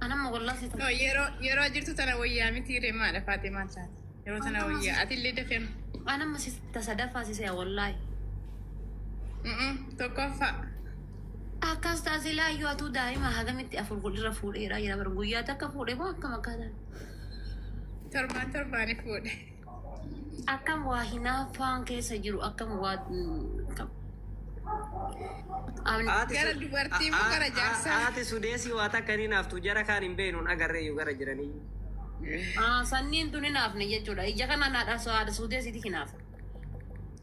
Anamma wallah si No, yeroo yeroo jirtu tana wayyaa miti reemaadha Faatimaan taate. Yeroo tana wayyaa ati illee dafee Anamma si tasa dafaa si se'a wallaahi. Mm-mm, tokkoffaa. Akkas taasee laayyoo atuu daa'ima hagamitti afur godhirra fuudheera jira bar guyyaa takka fuudhe moo akkam akkaataa. Torbaan torbaaniif fuudhe. Akkam waa hinaaffaan keessa jiru akkam waa akkam. Amni- Haati Gara su- dubartii moo a- a- gara a- jaarsaa? Haati sudeesii waa takka hin hinaaftu jara kaan hin beeknu hin agarree iyyuu gara jiranii. Ah, sanniin tun hinaafne jechuudha. Ija kana naadha haada suudeesiiti hinaafa.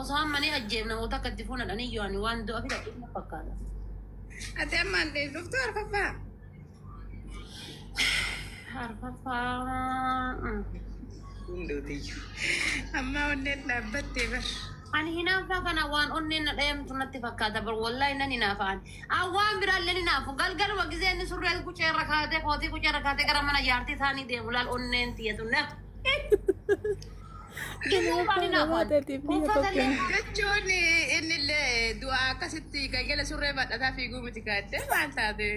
Osoo amma ni ajjeefna moo takka itti fuuna dhaniyyoo ani waan du'a fida dhufna fakkaata. Ati ammaan dhuftu arfaffaa. Arfaffaa. Hundootiyyuu. Ammaa onneen dhaabbattee bar. Ani hinaaffaa kana waan onneen na dhayamtu natti fakkaata bar wallahi nan hinaafaan. An waan biraallee hinaafu galgaluma gisee inni surree qucee irra kaatee kootii qucee irra kaatee gara mana jaartii isaanii deemu laal onneen tiyatu na. jechuun innillee du'a akkasitti galgala surree badhataa fiiguu miti gaadde maal taate.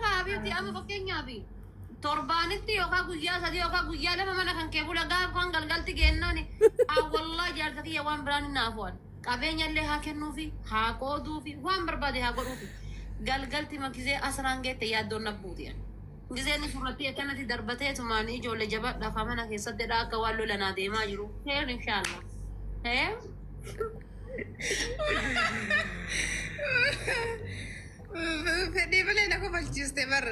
Habiibti amma fakkeenyaaf torbaanitti yookaan guyyaa sadii yookaan guyyaa lama mana kan kee bula gaaf kan galgalti geennaan wallaa jaarsa kiyya waan biraan hin naafu'an qabeenya illee haa kennuufi haa qooduufi waan barbaade haa godhuufi galgalti makisee asraan geette yaaddoon nabbuuti. Gizee nufu irrattii akkanati darbatee tumaani ijoole jabadha kaa mana keessattidha akka waan lola naa deemaa jiru kheer inshaalla Fedhii malee na kofalchiiste bar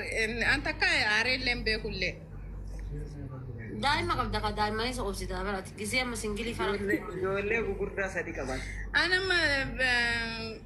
an takka aaree illee hin beeku illee. daa'ima qabda ka daa'imman isa obsita barati gizee amma singilii fara Ijoollee ijoollee gugurdaa sadi qaban. An amma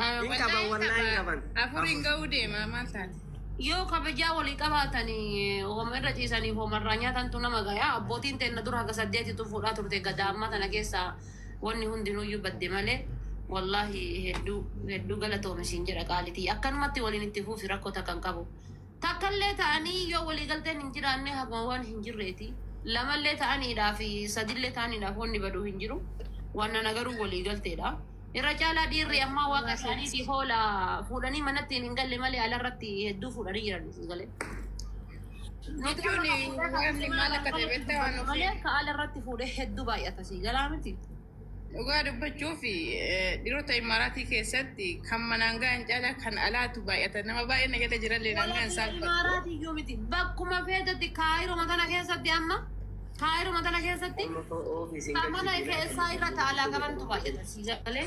Hin qaban wallahi hin qaban. Afur hin ga'uu deema maal taate? Yoo kabajaa walii qabaatanii homa irra ciisanii homa irraa nyaatantu nama gayaa abbootiin teenna dura haga saddeetitu fuudhaa turte gadaa ammaa tana keessaa wanni hundinuuyyuu badde malee wallaahi hedduu hedduu galatoomi siin jedha qaalitii akkanumatti waliin itti fuufi rakkoo takka hin qabu. Takkallee ta'anii yoo waliigalteen hin jiraanne haguma waan hin jirreeti. Lamallee ta'aniidhaa fi sadillee ta'aniidhaaf wanni badu hin jiru. Waannana garuu waliigalteedha. Irra caalaa dhiirri ammaa waaqa isaaniitiif hoola fuudhanii manattiin hin galle malee alarratti hedduu fuudhanii jiran sii galee. Nuti amma Jechuun kan fuudhee kan waanni mana maal kan akka ta'e galutti hin beektaa waan galu malee ofiin. ka alarratti fuudhee hedduu baay'ata sii galaa miti. Dhugaa dubbachuuf dhiirota Imaaraatii keessatti kan manaan ga'an caalaa kan alaatu baay'ata. Nama baay'een na jala jirallee naan ga'an isaan fakkaatu. Imaaraatii iyyuu miti. Bakkuma feetetti kaayiruma tana keessatti amma kaayiruma tana keessatti kan mana keessaa irra taalaa qabantu baay'ata sii galee.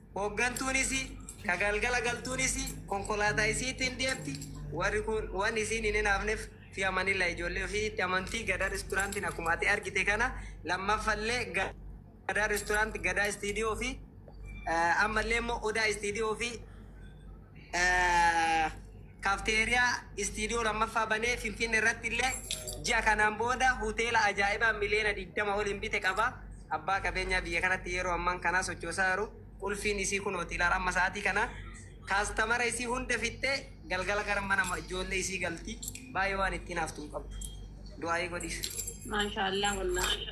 Hooggantuun isii, ka galgala galtuun isii konkolaataa isiitiin deemti, warri kuun waan isiin hin hinaafneef fi amanilla ijoollee ufiititti amanti, Gadaa Restaurant'n akkuma ati argite kana, lammaffallee Gadaa Restaurant, Gadaa Studio fi ammallee immoo Odaa Studio fi. Kafteeriyaa Istiidiyoo 2ffaa banee Finfinne irratti illee ji'a kanaan booda Hoteela Ajaa'ibaa Miliyoona 20 oliin bite qaba. Abbaa qabeenyaa biyya kanatti yeroo ammaan kanaa sochoosaa jiru. Qulfiin isii kunooti ilaala amma sa'aatii kana. Kaastamara isii hunda fixxee galgala gara mana ijoollee isii galti. Baay'ee waan ittiin haftu hin qabdu. Du'aayii godhiif. Maashaallah wallahi.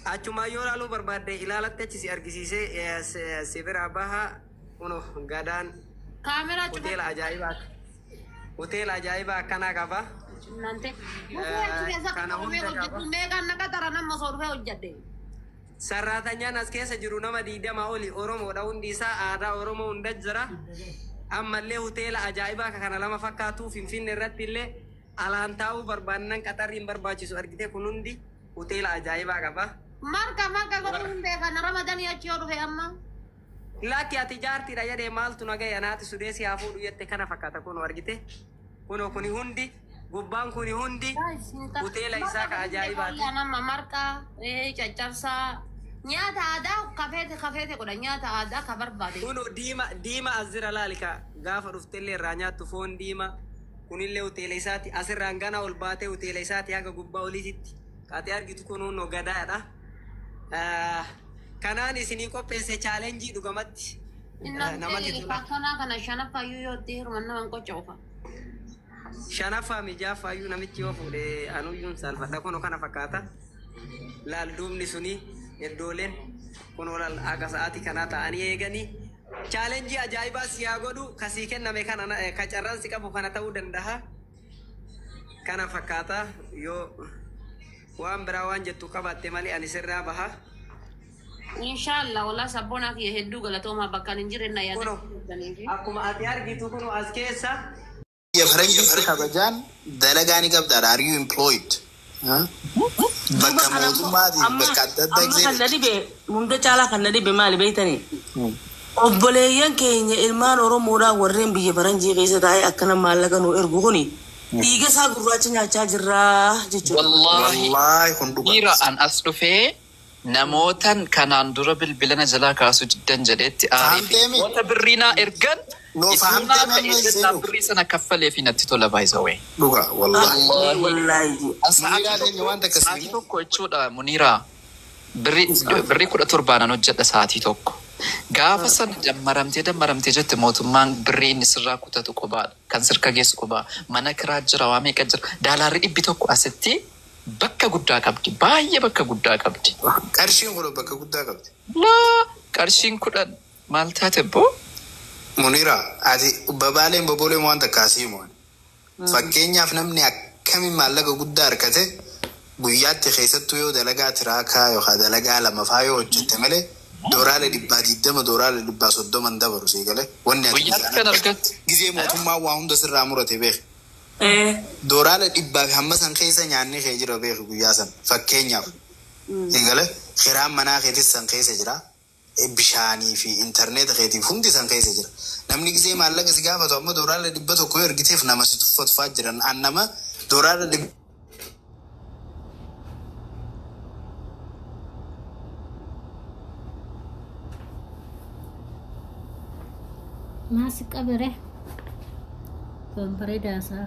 Achumaan yoo ilaaluu barbaadde ilaalatte achi si argisiisee si biraa baha. Kuno gadaan Kaameraa cufa. hoteela ajaa'ibaa hoteela ajaa'ibaa akkanaa qaba. Nante. Mukee achi keessa Kana qaxarame hunda hojjedhu. qaba. Meeqaan na qaxara nama osoo dhufee hojjedhe. Sarraatanyaan as keessa jiru nama digdama oli Oromoodha hundi isaa aadaa Oromoo hunda jira. Ammallee hoteela ajaa'ibaa akka kana lama fakkaatu Finfinne irratti illee alaan taa'uu barbaannan qaxarri hin barbaachisu argite kun hundi hoteela ajaa'ibaa qaba. Marka marka godhuu hin beekan. Ramadanii achi yoo dhufe amma. Lakki ati jaartidha jedhe maaltu na gahe anaati sudee si haa fuudhu jette kana fakkata kuno argite kuno kuni hundi gubbaan kuni hundi hoteela isaa ka ajaa'ibaati. Nama marqa caccabsaa nyaata aadaa kafeete kafeete godha nyaata aadaa ka barbaade. Kuno diima diima as jira laali ka gaafa dhuftellee irraa nyaattu foon diima kunillee hoteela isaati asirraan ganaa ol baatee hoteela isaati haga gubbaa oliititti ka ati argitu kun hunnoo gadaadha. Ah, kanaan isinii qopheesse chaalenjii dhugamatti ah, Innaan namatti ta'e tola. faarfannaa kana shanaffaa iyyuu yoo itti hirmanna waan qocha ofa. Shanaffaa mijaafaa iyyuu namichi yoo fuudhe anuyyuun saalfadha kunoo kana fakkaata. Laal duubni suni iddooleen kunoo laal haga sa'aatii kanaa ta'anii eeganii chaalenjii ajaa'ibaa si haa godhu kasii kenname kana na- eh, ka carraan si qabu kana ta'uu danda'a. kana fakkaata yoo waan biraa waan jettu qabaatte malee ani sirraa baha Inshallah walaa sabboonaa kiyya hedduu galatoomaa bakka ani hin jirre na yaada. kuno akkuma ati argitu kuno as keessa biyya faranjiitti kabajaan dalagaa ni qabda are you employed Bakka mootummaatiif bakka adda adda amma kan na dhibe hunda caalaa kan na dhibe maali beektanii? Obboleeyyan keenya ilmaan Oromoodhaa warreen biyya faranjii keessa taa'ee akkana maallaqa nuu ergu kuni dhiiga isaa gurraacha nyaachaa jirraa jechuudha. Wallaahi dhiira an as dhufee Namootan kanaan dura bilbila na jalaa kaasuu diddan jedheetti aaree fi namoota birrii naa ergan ituu naa ta'ee jennaan birrii sana kaffaleefii natti tola by the way. Dhuga wallahi Muniraa tenya wan takka sii Sa'atii tokko jechuudha Muniraa birrii kudha torba nan hojjedha sa'atii tokko. Gaafa sana dammaramtee dammaramtee jette mootummaan birrii inni sirraa kutatu qubaa kan sirka geessu qubaa mana kiraa jira waa meeqa jira daalaarri dhibbi tokko asitti Bakka guddaa qabdi. Baay'ee bakka guddaa qabdi. Qarshiin kudhan bakka guddaa qabdi. Laa! Qarshiin kudhan maal taate abboo? Muniraa, ati babaaleen bobooleen waan takka haa si himu ani. Fakkeenyaaf namni akkamiin maallaqa guddaa arkate guyyaatti keessattuu yoo dalagaa tiraakaa yookaa dalagaa lama faa yoo hojjette malee dooraale dhibbaa digdama dooraale dhibbaa soddoma hin dabaru sii galee wanni ati Guyyaatti guyyaan kan argattu. argattu. Gizee mootummaan waa hunda sirraa murate beeki. Doolaara dhibbaa fi hamma san keessa nyaanni kee jira beeki guyyaa san. Fakkeenyaaf. Eegale kiraan manaa keetis san keessa jira. Bishaanii fi interneeta keetiif hundi san keessa jira. Namni gizee maallaqa si gaafatu amma doolaara dhibba tokko yoo ergiteef nama si tuffatu fa'aa jiran. An nama doolaara dhibba. Maasi qabere. Kan bareedaa isaa.